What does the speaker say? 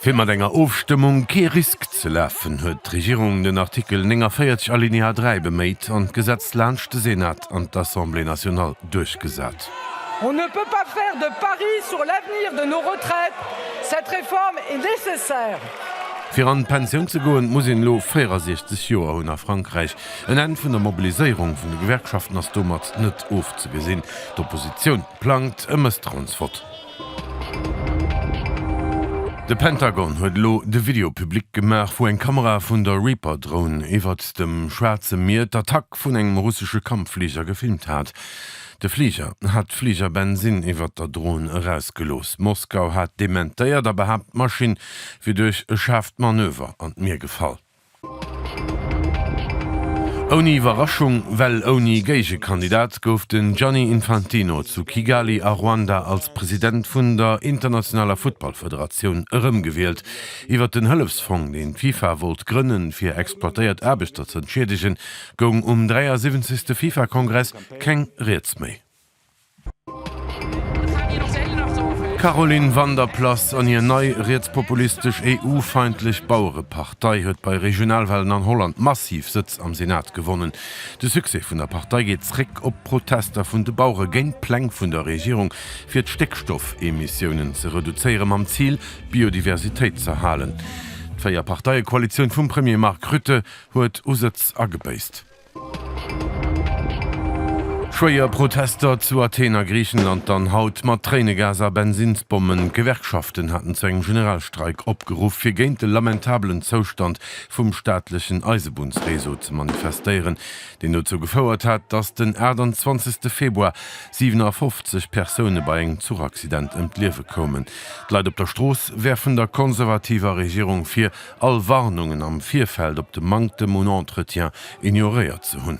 Fir mat enger Ofstëmmung kee Risk ze lafen, huet d'Regierung den Artikel 49 Alinéa 3 beméit an d'Gesetz laanscht de Senat an d'Assemblée nationale duerchgesat. Fir an d'Pensioun ze goen, muss een elo 64 Joer hunn. A Frankräich En Enn vun der Mobiliséierung vun de Gewerkschaften ass domat net ofzegesinn. D'Oppositioun plangt e Mësstrauensvott. De Pentagon huet elo de Video public gemaach, wou eng Kamera vun der Reaper-Droun iwwert dem Schwaarze Mier d'Attack vun engem russesche Kampffliger gefilmt hat. De Fliger hat Fligerbensin iwwert der Droun erausgelooss. Moskau hat dementéiert a behaapt, d'Maschinn wier duerch e schaarft Manöver an d'Mier gefall. Ouni Iwwerraschung, well ouni Géigekandidat, gouf den Gianni Infantino zu Kigali a Ruanda als President vun der internationaler Futtballfederatioun erëmgewielt. Iwwer den Hëllefsfong, deen d'FIFA wollt grënnen, fir exploitéiert Aarbechter z'entschiedegen, goung um 73. FIFA-Kongress keng Rieds méi. D'Caroline Van der Plas an hir nei rietspopulistesch EU-feindlech Bauerepartei huet bei Regionalwahlen an Holland massiv Sëtz am Senat gewonnen. De Succès vun der Partei geet zréck op d'Protester vun de Bauere géint d'Pläng vun der Regierung fir d'Stéckstoffemissiounen ze reduzéiere mam Zil d'Biodiversitéit z'erhalen. D'Véier-Parteie-Koalitioun vum Premier Mark Rutte huet u Sëtz agebéisst. Schwéier Protester zu Athen a Griichenland dann haut mat Tréinegas a Bensinnsbommen. D'Gewerkschaften haten zu engem Generalstreik opgeruff, fir géint de lamentabelen Zoustand vum staatlechen Eisebunnsreseau ze manifestéieren, deen dozou gefouert hat, datt den 28 Februar 57 Persoune bei engem Zuchaccident ëm d'Liewe koumen. D'Leit op der Strooss werfen der konservativer Regierung vir, all Warnungen am Virfeld op de Manktem un Entretien ignoréiert ze hunn.